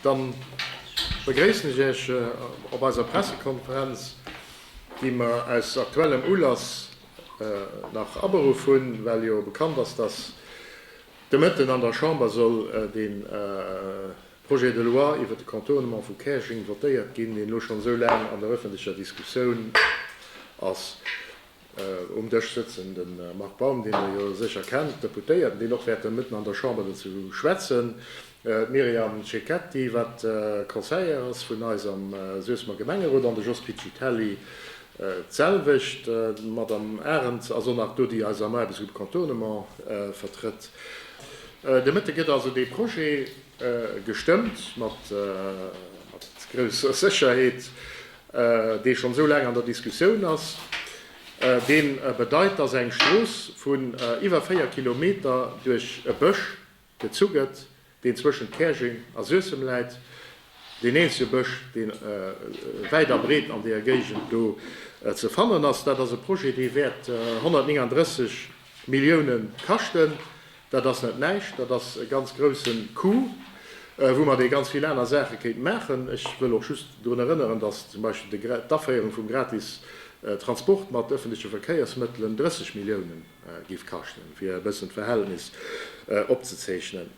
Dann begréissen ech Iech op eiser Pressekonferenz, déi mer aus aktuellem Ulass nach aberuff hunn, well jo bekannt ass, dass de Mëtten an der Chamber soll de Projet de loi iwwert de Contournement vu Käerjeng votéiert ginn, deen elo schonn esou laang an der öffentlecher Diskussioun ass. Um Dësch sëtzen de Marc Baum, deen Der jo sécher kennt, Deputéierten, deen och wäerte mëtten an der Chamber dozou schwätzen, d'Myriam Cecchetti, wat Conseillère ass vun eis am Suessemer Gemengerot, an de Jos Piccitelli, d'selwecht. D'Madame Arens ass och nach do, déi eis am Aarbechtsgrupp Contournement vertrëtt. De Mëtte gëtt also dee Projet gestëmmt, mat grousser Sécherheet. dee schonn esou laang an der Diskussioun ass, dee bedeit, dass eng Strooss vun iwwer 4 Kilometer duerch e Bësch gezu gëtt, deen zwëschent Käerjeng a Suessem läit, deen eenzege Bësch, dee wäit a breet an deeër Géigend do ze fannen ass. Dat ass e Projet, dee wäert 139 Milliounen kaschten. Dat ass net näischt, dat ass e ganz grousse Coup, woumat ee ganz vill aner Saache kéint maachen. Ech wëll och just drun erënneren, dass zum Beispill d'Aféierung vum gratis Transport mat öffentliche Verkéiersmëttelen 30 Milliounen giff kaschten, fir e bëssen d'Verhältnis opzezeechnen.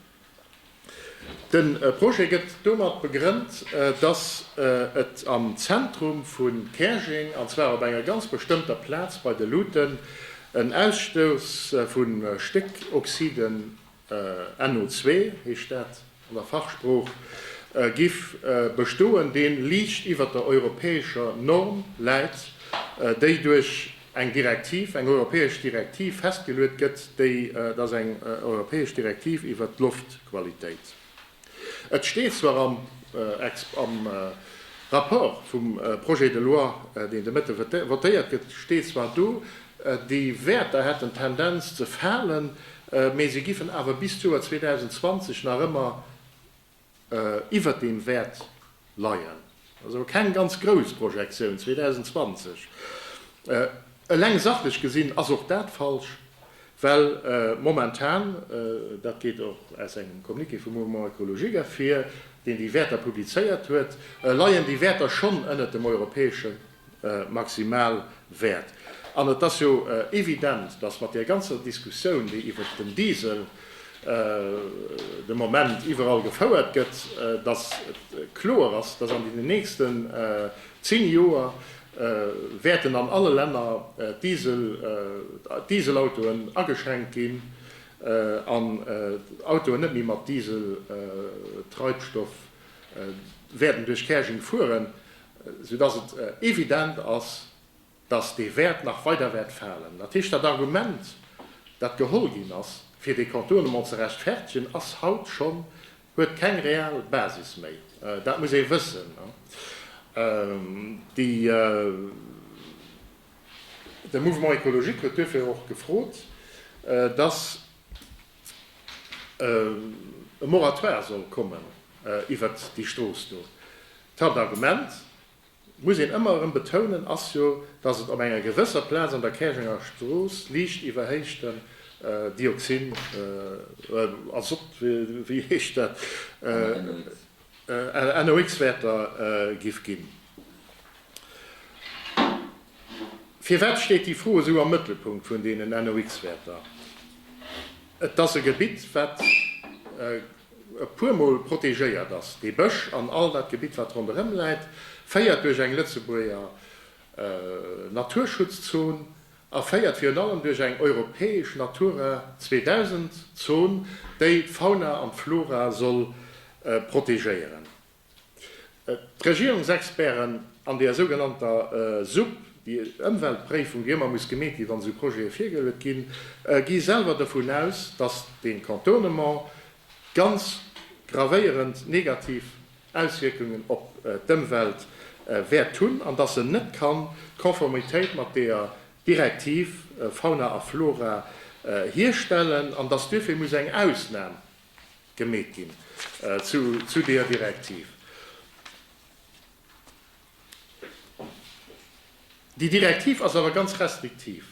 De Projet gëtt domat begrënnt, dass et am Zentrum vu Käerjeng, an zwar op enger ganz bestëmmter Plaz bei de Luuten, en Ausstouss vu Stéckoxiden, NO2 heescht dat an der Fachsprooch, giff bestoen, deen liicht iwwert der europäescher Norm läit, déi duerch. eng Direktiv, eng europäesch Direktiv festgeluet gëtt, déi, et ass eng europäesch Direktiv iwwert d'Loftqualitéit. Et steet zwar am am Rapport vum Projet de loi, deen de Mëtte votéiert gëtt, steet zwar do, déi Wäerter hätten d'Tendenz ze falen, mä se giffen awer bis d'Joer 2020 nach ëmmer, iwwert deem wäert leien, ass awer keng ganz grouss Projektioun 2020. Eleng sachlech gesinn ass och dat falsch, well momentan, dat geet och aus engem Communiqué vum Mouvement Ecologique ervir, deen déi Wäerter publizéiert huet, leien déi Wäerter schonn ënnert dem europäesche maximal wäert. An et ass jo evident, dass mat där ganzer Diskussioun, déi iwwert den Diesel de Moment iwwerall gefouert gëtt, dass et kloer ass, dass an deenen nächsten zéng Joer wäerten an alle Länner d'Dieselautoen ageschränkt ginn an d'Autoen net méi mat Dieseltreibstoff wäerten duerch Käerjeng fueren. sou dass et evident ass, dass dee Wäert nach weider wäert falen. Dat heescht, dat Argument, dat geholl ginn ass, fir dee Contournement ze rechtfertegen, ass haut schonn, huet keng real Basis méi. Dat muss ee wëssen. De Mouvement écologique huet duerfir och gefrot, dass. e Moratoire soll kommen iwwert déi Strooss do. D'Haaptargument, muss een ëmmer erëm betounen, ass jo, datt et op enger gewësser Plaz an der Käerjenger Strooss liicht iwwerhéichten Dioxin, Azott, wéi heescht dat, NOx, Wäerter géif ginn. Firwat steet déi Fro esou am Mëttelpunkt vun deenen NOx-Wäerter? Et ass e Gebitt, wat e puermol protegéiert ass. Dee Bësch an all dat Gebitt, wat ronderëm läit, féiert duerch eng Lëtzebuerger Naturschutzon a féiert virun allem duerch eng europäesch Natura 2000-Zon, déi d'Fauna an d'Flora soll protegéieren. D'Regierungsexperten an deer sougenannter Supp, déi Ëmweltpréifung, déi ëmmer muss gemeet ginn, wann esou Projete virgeluet ginn, gi selwer dovun aus, datt dee Contournement ganz gravéierend negativ Auswierkungen op d'Ëmwelt wäert hunn an datt en net kann d'Konformitéit mat deer Direktiv Fauna a Flora hierstellen an datt duerfir muss eng Ausnam gemeet ginn zu deeër Direktiv. Déi Direktiv ass awer ganz restriktiv.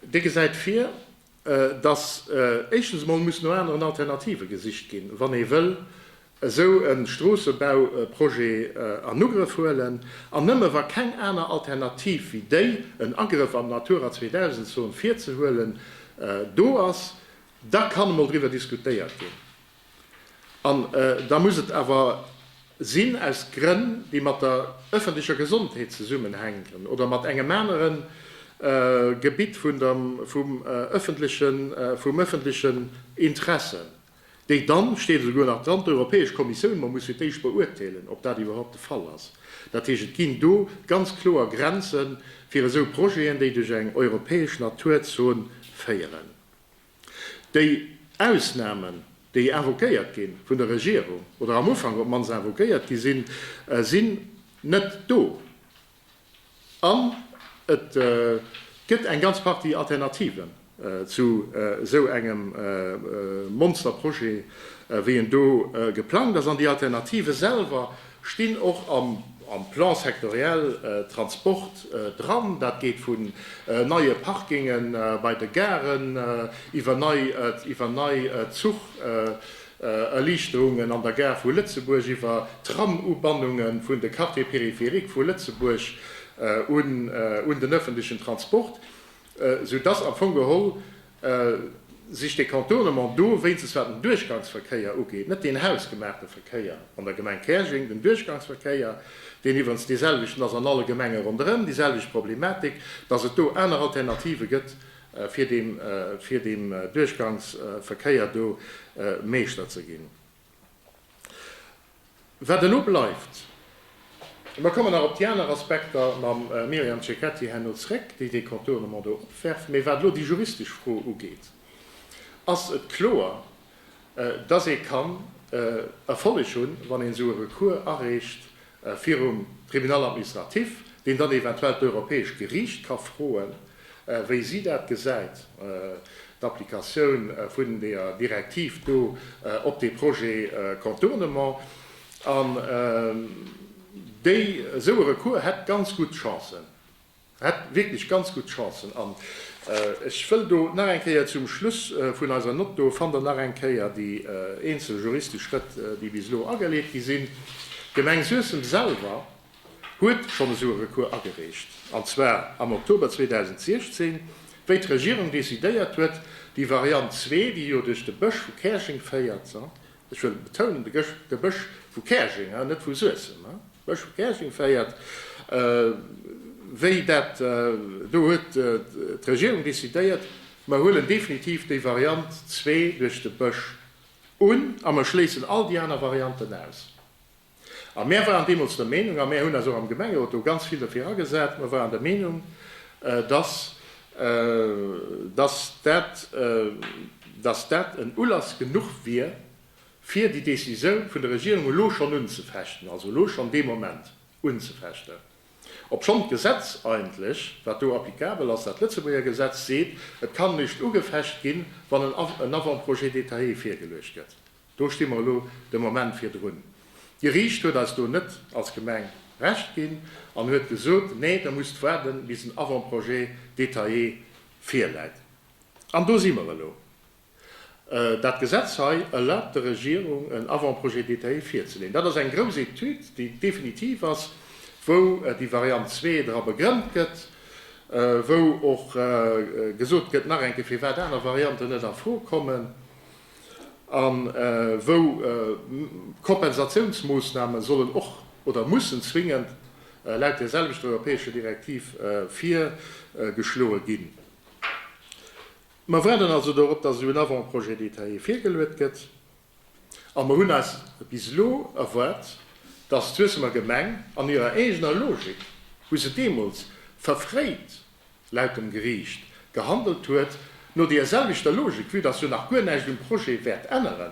Déi gesäit vir, dass éischtens emol muss no aneren Alternative gesicht ginn, wann ee wëll esou e Stroossebauprojet an Ugrëff huelen, an nëmme wa keng aner Alternativ wéi déi, en Agrëff an d'Natura 2000 Zon virzehuelen, do ass, Da kann emol driwwer diskutéiert ginn. An da muss et awer sinn aus Grënn, déi mat der öffentlecher Gesondheet zesummenhänken oder mat engem anere Gebitt vum öffentlechen Interesse, déi dann, steet esouguer nach dran, d'Europäesch Kommissioun emol muss fir d'éischt beurteelen, ob dat iwwerhaupt de Fall ass. Dat heescht, et ginn do ganz kloer Grenze fir esou Projeten, déi duerch eng europäesch Naturzon féieren. Déi Ausnahmen, déi invoquéiert gi vun der Regierung, oder am Ufank op d'mannst invoquéiert gi sinn, sinn net do. An et gëtt eng ganz Partie Alternativen zu esou engem Monsterprojet, wéi en do geplangt ass. An déi Alternative selwer stinn och am Plan sectoriel Transport dran. Dat geet vun neie Parkinge bei de Garen, iwwer nei Zuch-Erliichterungen an der Gare vu Lëtzebuerg, iwwer Tram-Ubannunge vun de Quartiers périphériques vu Lëtzebuerg un den ëffentlechen Transport. Sou dass am Fong geholl sech de Contournement do, wéinstens wat den Duerchgangsverkéier ugeet, net deen hausgemaachte Verkéier an der Gemeng Käerjeng, den Duerchgangsverkéier, deen iwwerens deeselwechten ass an alle Gemenge ronderëm, déiselwecht Problematik, dass et do aner Alternative gëtt, fir deem Duerchgangsverkéier do Meeschter ze ginn. Wat elo bleift, mer kommen nach op déi aner Aspekter mam Myriam Cecchetti herno zréck, déi dee Contournement do opwerft, mee wat elo déi juristesch Fro ugeet, ass et kloer, dass ee kann Erfolleg hunn, wann een esou e Recours areecht, virum Tribunal administratif, deen dann eventuell d'Europäescht Geriicht ka froen, wéi si dat gesäit, d'Applikatioun vun deeër Direktiv do op dee Projet Contournement. An déi, esou e Recours hätt ganz gutt Chancen. Hätt wierklech ganz gutt Chancen. An ech wëll do nach eng Kéier zum Schluss vun eiser Nott, do fannt Der nach eng Kéier déi eenzel juristesch Schrëtt, déi bis elo ageleet gi sinn. D'Gemeng Suessem selwer huet schonn esou e Recours agereecht, an zwar am Oktober 2016, wéi d'Regierung decidéiert huet, déi Variant zwee, déi jo duerch de Bësch vu Käerjeng féiert, Ech wëll betounen, de Bësch vu Käerjeng, net vu Suessem, de Bësch vu Käerjeng féiert wéi dat do, huet d'Regierung decidéiert, mer huelen definitiv déi Variant zwee duerch de Bësch un a mer schléissen all déi aner Varianten aus. A mär waren deemools der Meenung, a mär hunn eis och am Gemengerot do ganz vill derfir agesat, mer waren der Meenung, dass, dass dat, dass dat en Ulass genuch wier, fir déi Décisioun vun der Regierung elo schonn unzefechten, also elo schonn dee Moment unzefechten, obschonn d'Gesetz eigentlech, wat do applicabel ass, dat Lëtzebuerger Gesetz, seet, et kann eréischt ugefecht ginn, wann en Avant-projet détaillé virgeluecht gëtt. Do sti mer elo de Moment virdrun. D'Geriicht huet eis do net als Gemeng Recht ginn an huet gesot, nee, Der musst waarden, bis en Avant-projet détaillé virläit. An do si mer elo. Dat Gesetz hei erlaabt der Regierung, en Avant-projet détaillé virzeleeën. Dat ass eng grouss Etüd, déi definitiv ass, wou déi Variant zwee dra begrënnt gëtt, wou och gesot gëtt nach eng Kéier, firwat aner Varianten net a Fro kommen. a wou Kompensatiounsmoossname sollen och oder mussen zwingend laut där selwechter europäescher Direktiv virgeschloe ginn. Mer waarden also dorop, dass elo en Avant-projet détaillé virgeluet gëtt, a mer hunn eis bis elo erwaart, dass d'Suessemer Gemeng an hirer eegener Logik, wou se deemools verfréit laut dem Geriicht, gehandelt huet, no deer selwechter Logik, vue dass jo nach guer näischt um Projet wäert änneren,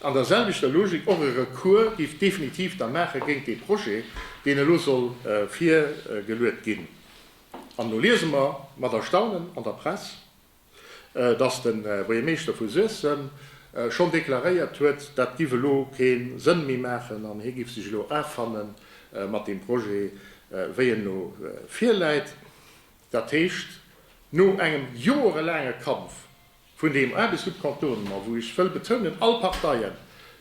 an der selwechter Logik och e Recours géif definitiv da maache géint dee Projet, deen elo soll virgeluet ginn. An elo liese mer mat Erstaunen an der Press, dass de Buergermeeschter vu Suessem schonn deklaréiert huet, dat giff elo kee Sënn méi maachen an hie giff sech elo affanne mat deem Projet, wéi en elo virläit. Dat heescht, no engem joerelaange Kampf vun deem Aarbechtsgrupp-Kantonen a wou, ech wëll betounen, all Parteien,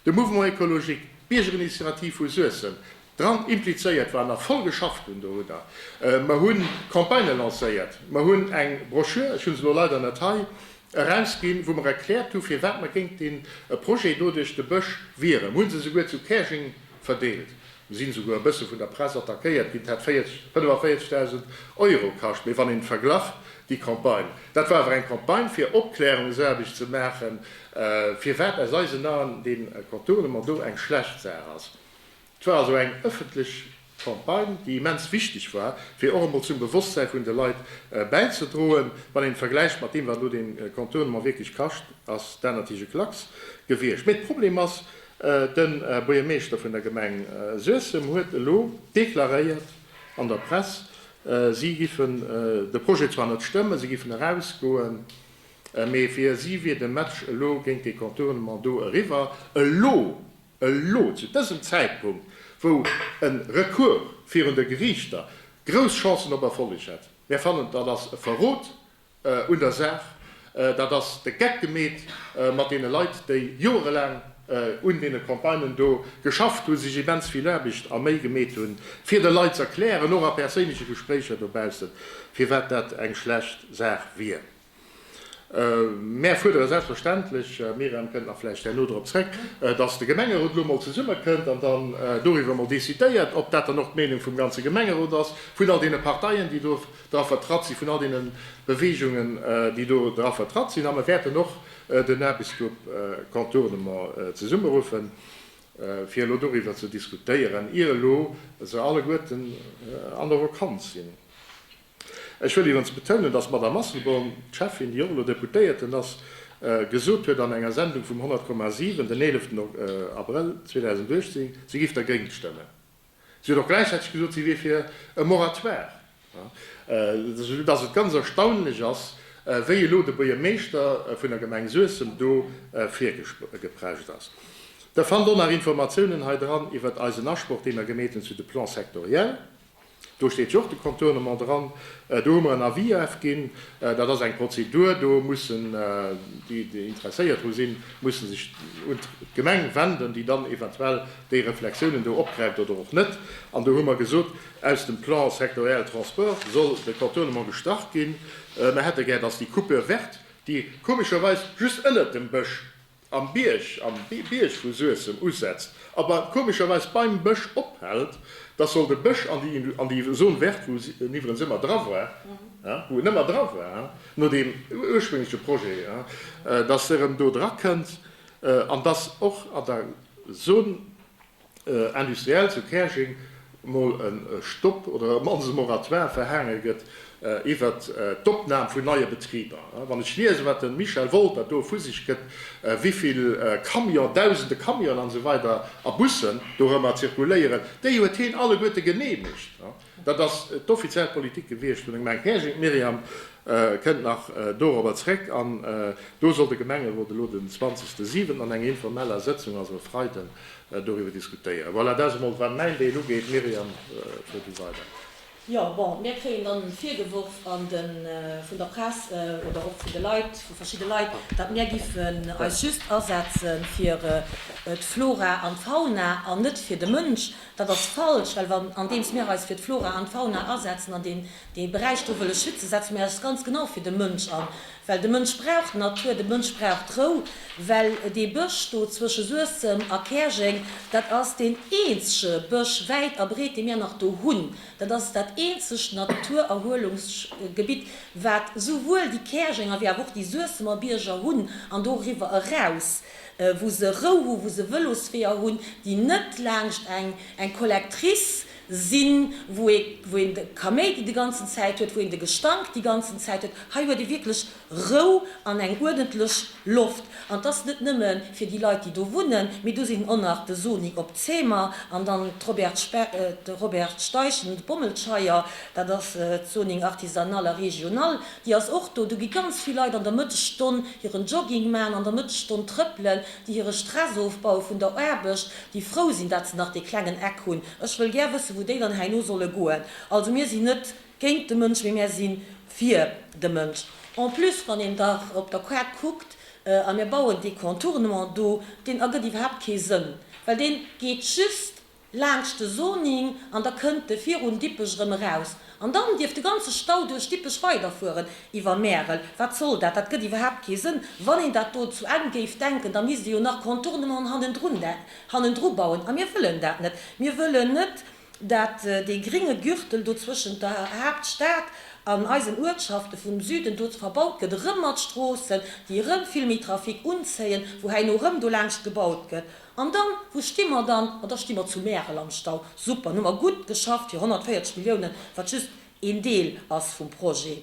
de Mouvement écologique, d'Biergerinitiativ vu Suessem, Dran implizéiert war nach voll geschafft hunn. Do hutt Der. Mer hu Campagnë lancéiert. Mer hunn eng Broschür, ech hu se elo leider net hei, erausginn, wou mer erkläert hu firwat mer géint dee Projet do duerch de Bësch wieren. Mer hu se esouguer zu Käerjeng verdeelt. Mer sinn esouguer e bësse vun der Press attackéiert ginn. Et hätt 45.000 Euro kascht. Mee wann een verglach déi Campagne, dat war awer eng Campagne fir Opklärungsaarbecht ze maachen, firwat aus eisen Aen dee Contournement do eng schlecht Saach ass. Et war also eng ëffentlech Campagne, déi immens wichteg war, fir och emol zum Bewosstsäi vun de Leit bäizedroen. Wann een et vergläicht mat deem, wat elo dee Contournement wierklech kascht, ass dat natierlech e Klacks gewiescht. Mee de Problem ass, De Buergermeeschter vun der Gemeng Suessem huet elo deklaréiert an der Press, si giffen de Projet zwar net stëmmen, si giffen erausgoen, mee fir si wier de Match elo géint dee Contournement do eriwwer. Elo Elo, zu dësem Zäitpunkt, wou e Recours virun de Geriichter grouss Chancen op Erfolleg hätt. Mär fannen, dat ass e Verrot un der Saach. Dat ass de Geck gemeet mat deene Leit, déi joerelaang un deene Campagnen do geschafft hunn, sech immens vill Aarbecht a Méi gemeet hunn, fir de Leit ze erklären, och a perséinleche Gespréicher dobaussen, firwat dat eng schlecht Saach wier. Mär fuerdere selbstverständlech, d'Myriam kënnt nach vläicht herno drop zrëck, dass de Gemengerot elo emol zesummekënnt an dann doriwwer emol decidéiert, ob dat dann och d'Meenung vum ganze Gemengerot ass, vun all deene Parteien, déi do dra vertratt sinn, vun all deene Beweegungen, déi do dra vertratt sinn. A mer wäerten och den Aarbechtsgrupp Contournement zesummeruffen, fir elo doriwwer ze diskutéieren, ier elo se alleguerten an der Vakanz sinn. Ech wëll iwwens betounen, dass d'Madame Asselborn, d'Schäffin, déi och elo Deputéierten ass, gesot huet an enger Sendung vum 100,7 den 11 Abrëll 2018, si géif dergéint stëmmen. Si huet och gläichzäiteg gesot, si wier fir e Moratoire, soudass et ganz erstaunlech ass, wéi elo de Buergermeeschter vun der Gemeng Suessem do virgeprescht ass. Der fannt och nach Informatiounen hei dran iwwert eisen Asproch, deen mer gemeet hunn zu de Plans sectoriels. Do steet jo och de Contournement dran. Do hu mer en Avis afginn. Dat ass eng Prozedur. Do mussen déi, déi interesséiert dru sinn, mussen sech un d'Gemeng wenden, déi dann eventuell déi Reflexiounen do opgräift oder och net. An do hu mer gesot, aus dem Plan sectoriel transport soll de Contournement gestrach ginn. Mer hätte gär, dass déi Coupure verte, déi komescherweis just ënnert dem Bësch Am Bierg, am Bierg vu Suessem usetzt, awer komescherweis beim Bësch ophält, dass soll de Bësch an déi, an déi Zone verte, wou en iwwerens ëmmer dra war, wou en ëmmer dra war no deem urspréngleche Projet, dass e erëm do dra kënnt an dass och an der Zone, industriell zu Käerjeng mol e Stopp oder mannst e Moratoire verhaange gëtt iwwer d'Opnam vun neie Betriber. Wann ech liesen, wat de Michel Wolter do vu sech gëtt, wéivill Camion, dausende Camionen an esou weider a Bussen dorëmmer zirkuléieren, déi huet heen alleguerte geneemegt. Dat ass d'offiziell Politik gewiescht vun engem Enkägen. D'Myriam kënnt nach dorobber zréck. An do soll de Gemengerot elo den 20 de Siwenten an enger informeller Sëtzung, also e Freiden, doriwwer diskutéieren. Voilà, dat ass emol, wat mäin Deel ugeet. Myriam, fuer du weider. Jo, bon, mir kréien dann virgeworf vun der Press oder och vun de Leit, vu verschidde Leit, datt mir giffen eis just asetze fir d'Flora an d'Fauna an net fir de Mënsch. Dat ass falsch, well wa, andeems mir eis fir d'Flora an d'Fauna asetzen an deen, dee Beräich do wëlle schützen, setze mir eis ganz genau fir de Mënsch an, well de Mënsch brauch d'Natur, de Mënsch brauch d'Rou, well dee Bësch do zwësche Suessem a Käerjeng, dat ass deen eenzege Bësch, wäit a breet, dee mir nach do hunn. Dat ass dat eenzegt Naturerhuelungsgebitt, wat souwuel déi Käerjenger wéi awer och déi Suessemer Bierger hunn an doriwwer eraus. wou se Rou hu, wou se Vëlosweeër hunn, déi net laanscht eng eng Collectrice sinn, wou ee wou een de Kaméidi de ganzen Zäit huet, wou een de Gestank déi ganzen Zäit huet. Hei huet ee wierklech Rou an eng uerdentlech Loft. An et ass net nëmme fir déi Leit, déi do wunnen, mee do sinn och nach de Sony op Zeemer an dann d'Robert Spe d'Robert Steichen, d'Bommelscheier, dat ass d'Soning artisanale a regionale. Déi ass och do. Do gi ganz vill Leit an der Mëttesstonn hiren Jogging maachen, an der Mëttesstonn trëppelen, déi hire Stress ofbaue vun der Aarbecht, déi frou sinn, datt se nach dee klengen Eck hunn. Ech wëll gär wëssen, wou déi dann herno solle goen. Also mir sinn net géint de Mënsch, mee mir si fir de Mënsch. En plus, wann een da op der Kaart kuckt, a mir bauen dee Contournement do, deen ergëtt iwwerhaapt kee Sënn, well dee geet just laanscht de Soning an da kënnt e virun Dippech erëm eraus an dann dierf de ganze Stau duerch Dippech weiderfueren iwwer Märel. Wat soll dat? Dat gëtt iwwerhaapt kee Sënn. Wann een dat do zu Enn géif denken, da misst ee jo nach Contournementen hannendrun, hannendru bauen a mir wëllen dat net. Mir wëllen net, dat dee gringe Gürtel do zwëschent der Haaptstad an eisen Uertschafte vum Süden do verbaut gëtt, erëm mat Stroossen, déi erëm vill méi Trafic unzéien, wou herno erëm do laanscht gebaut gëtt. An dann, wou sti mer dann? Ma da sti mer zu Märel am Stau. Super, nun hu mer gutt geschafft fir 140 Milliounen, wat just een Deel ass vum Projet.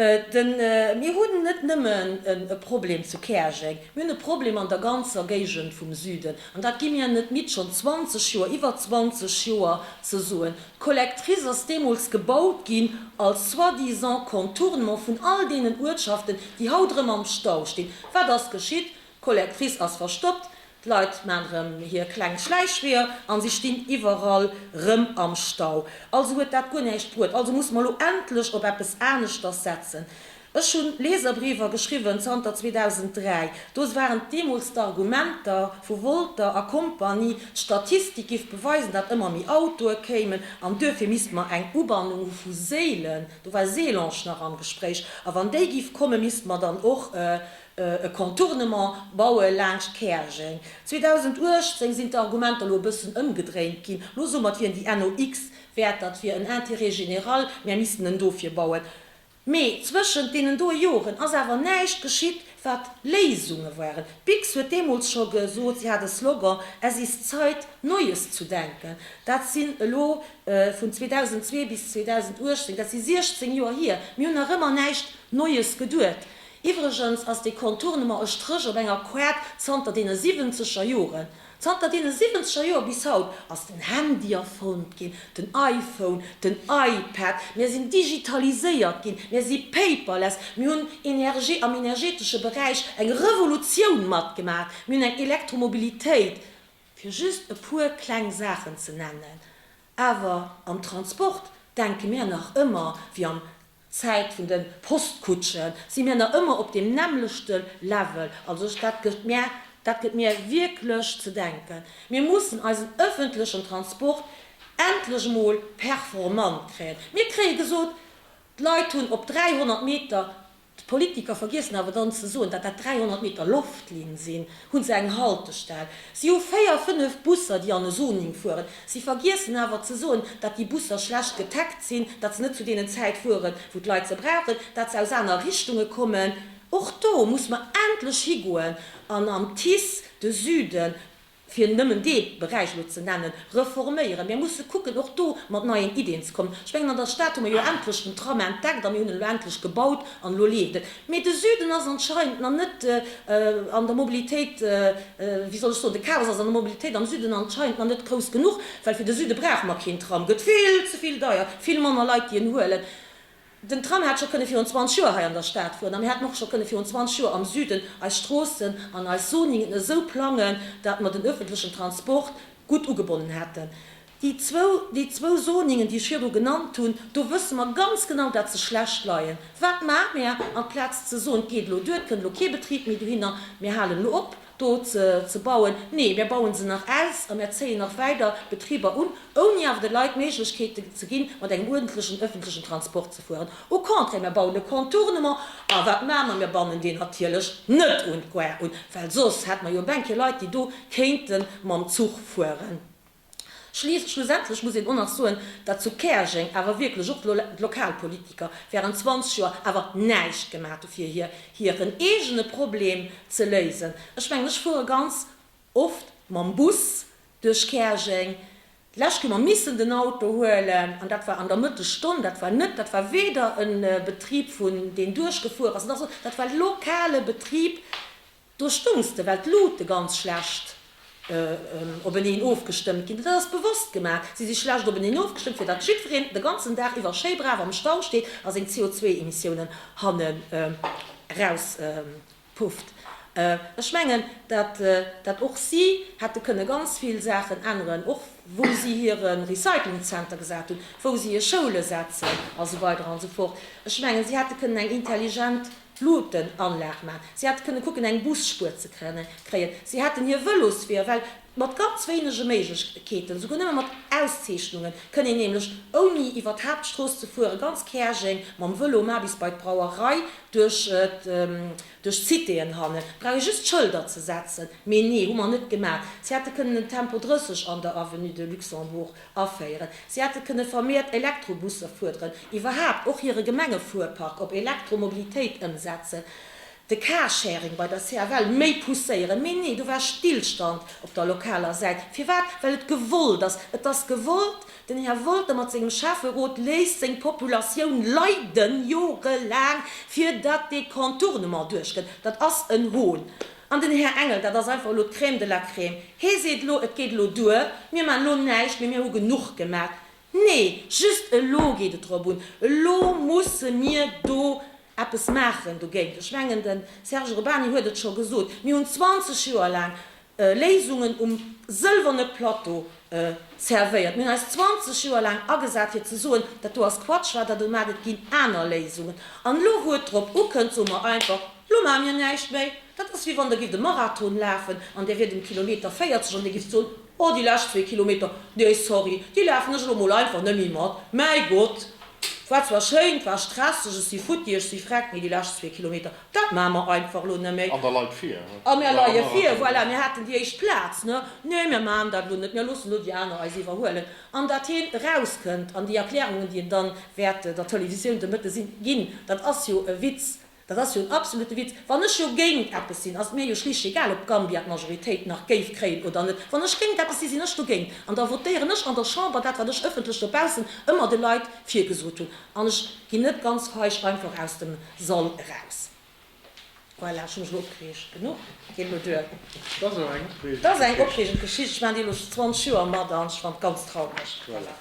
Mir hunn net nëmmen e Problem zu Käerjeng, mir hunn e Problem an der ganzer Géigend vum Süden. An dat gi mir net midd, schonn 20 Joer, iwwer 20 Joer ze soen. D'Collectrice ass deemools gebaut ginn als soi-disant Contournement vun all deenen Uertschaften, déi haut erëm am Stau stinn. Wat ass geschitt? D'Colette Kriss ass verstoppt, d'Leit maan rem hier kleng Schläichweeër an sie stinn iwerall rem am Stau. Also huet daat guer näischt bruet. Also musse mer lo endlech op eppes aaneschters setzen. Ech hunn Leserbriewer geschriwwen zanter 2003. Do waren deemols d'Argumenter vu Wolter a Kompanie, d'Statistik giff beweisen, daat emmer méi Autoe kéimen an duerfir misst mer eng Ubannung hu vu Séilen, do war Sélange nach am Gespréich, a wann déi giff kommen, misst mer dann och e Contournement baue laangscht Käerjeng. 2018 sinn d'Argumenter elo e bëssen ëmgedréint ginn. Elo soe mer, et wier déi NOx Wäerter, et wier en Intérêt général, mär missten en dofir bauen. Mee zwëschent deenen doe Joren ass awer näischt geschitt, wat Léisunge waren. D'Biks huet deemools scho gesot, si hat e Slogan, Es ist Zeit, Neues zu denken. Dat sinn elo, vun 2002 bis 2018, dat si 16 Joer hier, mir hunn nach ëmmer näischt Neues geduet. Iwwregens ass dee Contournement e Stréch op enger Koart zanter deene siwwenzeger Joren. Zanter deene siwwenzeger Joer bis haut ass den Handy erfonnt ginn, den iPhone, den iPad, mir sinn digitaliséiert ginn, mir si paperless, mir hunn Energie am energetesche Beräich eng Revolutioun matgemaach, mir hunn eng Elektromobilitéit, fir just e puer kleng Saachen ze nennen. Awer am Transport denke mir nach ëmmer wéi am Zäit vun den Postkutschen si mir nach ëmmer op deem nämmlechte Level. Also ech, dat gëtt mir, dat gëtt mir wierklech ze denken. Mir mussen eisen ëffentlechen Transport endlech emol performant kréien. Mir kréie gesot, d'Leit hunn op 300 Meter, d'Politiker vergiessen awer dann ze soen, datt dat 300 Meter Loftlinn sinn, Hu se eng Haltestell? Si hu véier, fënnef Busser, déi an e Zoning fueren. Si vergiessen awer ze soen, datt déi Busser schlecht getaggt sinn, datt se net zu deenen Zäit fueren, wou d'Leit se brauchen, datt se aus aner Richtunge kommen. Och do muss mer endlech higoen an am TICE de Süden, fir nëmmen dee Beräich elo ze nennen, reforméieren. Mir musse kucken, och do mat neien Iddien ze kommen. Ech mengen, an der Stad hu mer jo endlech den Tram entdeckt a mir hunn en elo endlech gebaut an elo leeft en. Mee de Süden ass anscheinend nach net an der Mobilitéit, wéi soll ech soen, de Chaos ass an der Mobilitéit am Süden anscheinend nach net grouss genuch, well fir de Süde brauche mer keen Tram, gëtt vill ze vill deier, vill manner Leit déi en huelen. Den Tram hätt scho kënne virun 20 Joer hei an der Stad fueren a mir hätten och scho kënne virun 20 Joer am Süden eis Stroossen an eis Zoningen esou plangen, dat mer den öffentlechen Transport gutt ugebonnen hätten. Déi zwou, déi zwou Zoningen, déi ech virdru genannt hunn, do wësse mer ganz genau, dat se schlecht leien. Wat maache mär? Amplaz ze soen, et geet elo duer, et kënnt elo kee Betrib méi dohinner, mir halen elo op do ze bauen, nee, mär baue se nach aus a mär zéien nach weider Betriber un, ouni awer de Leit d'Méiglechkeet ze ginn, mat engem uerdentlechen ëffentlechen Transport ze fueren. Au contraire, mär bauen e Contournement. A wat maache mer? Mär bannen deen natierlech net un d'Gare un, well soss hätte mer jo e Bänkchen Leit, déi do kéinte mam Zuch fueren. Schlussendlech muss een och nach soen, datt zu Käerjeng awer wierklech och d'Lokalpolitiker während 20 Joer awer näischt gemaat hu fir hiren eegene Problem ze léisen. Ech mengen, ech fuere ganz oft mam Bus duerch Käerjeng. D'lescht hu mer missen den Auto huelen, an dat war an der Mëttesstonn. Dat war net, dat war weder e Betrib vun, deen duerchgefuer ass, nach sou, dat war lokale Betrib, Do stoungs de, well d'Lute ganz schlecht openeen ofgestëmmt ginn. Dat ass bewosst gemaach. Si si schlecht openeen ofgestëmmt, fir datt jiddwereen de ganzen Dag iwwer schéi brav am Stau steet a seng CO2-Emissiounen hanne rauspufft. Ech mengen, datt och si hätte kënne ganz vill Saachen änneren, och wou si hire Recyclingzenter gesat hunn, wou si hir Schoule setzen a sou weider a sou fort. Ech mengen, si hätte kënnen eng intelligent d'Luutenanlag maan. Si hätte kënne kucken eng Busspuer ze kréien. Si hätten hir Vëlosweeër well mat ganz wéinege Méiglechkeeten, souguer nëmme mat Auszeechnungen, kënne een nämlech ouni iwwer d'Haaptstrooss ze fuere ganz Käerjeng mam Vëlo maan, bis bei d'Brauerei, duerch d'Citéen hannen, brauch ee just Schëlder ze setzen. Mee nee, hu mer net gemaat. Si hätte kënnen en Tempo 30 an der Avenue de Luxembourg Aféieren. Si hätte kënne vermiert Elektrobusser fuerderen, iwwerhaapt och hire Gemengefuerpark op Elektromobilitéit ëmsetzen, de Carsharing bei der CFL méi pousséieren. Mee nee, do war Stillstand op der lokaler Säit. Firwat? Well et gewollt ass. Et ass gewollt. Den Här Wolter mat sengem Schäfferot léisst seng Populatioun leiden, jorelaang, fir datt dee Contournement duerchgëtt. Dat ass en Hohn. An den Här Engel, dat ass einfach elo d'Crème de la Crème, hee seet elo, et geet elo duer, mir maachen elo näischt méi, mir hu genuch gemaach. Nee, just elo geet et drop un, elo musse mir do eppes maachen dogéint. Ech mengen, de Serge Urbany huet et scho gesot, mir hunn 20 Joer laang Léisungen um sëlwerne Plateau Servéiert. Mir hunn eis 20 Joer laang agesat fir ze soen, dat do ass Quatsch wat der do maacht, et ginn aner Léisungen. An elo wou et drop ukënnt, soe mer einfach, elo maache mir näischt méi. Dat ass wéi wann der gifft e Marathon lafen an där wiert um Kilometer 40 an dir gifft soen, oh déi lescht zwee Kilometer, nee sorry, déi lafen ech elo mol einfach net méi mat, mäi Gott, war zwar schéin, war stresseg, ech si futti, ech si freck, mee déi lescht zwee Kilometer, Dat maache mer einfach elo net méi. An der Leit vir. A mir leie vir, voilà, mir haten déi éischt Plaz. Ne, nee, mir maachen dat elo net, mir loossen elo déi aner eis iwwerhuelen. An datt hien erauskënnt, an déi Erklärungen, déi en dann wäert der Télévisioun de Mëtte sinn, ginn, dat ass jo e Witz. Dat ass jo en absolute Witz. Wann ech jo géint eppes sinn, ass et mir jo schlicht egal, ob d'Gambia d'Majoritéit nach géif kréien oder net. Wann ech géint eppes sinn, sinn ech dogéint. An da votéieren ech an der Chamber dat, wat ech ëffentlech dobaussen ëmmer de Leit virgesot hunn. An ech ginn net ganz feig einfach aus dem. Soll eraus. Voilà, ech hu mech elo opgereegt genuch. Geet elo duer. Dat ass eng opregend Geschicht. Dat ass eng opregend Geschicht. Ech maachen déi elo schonn 20 Joer mat an ech fannt et ganz traureg. Voilà.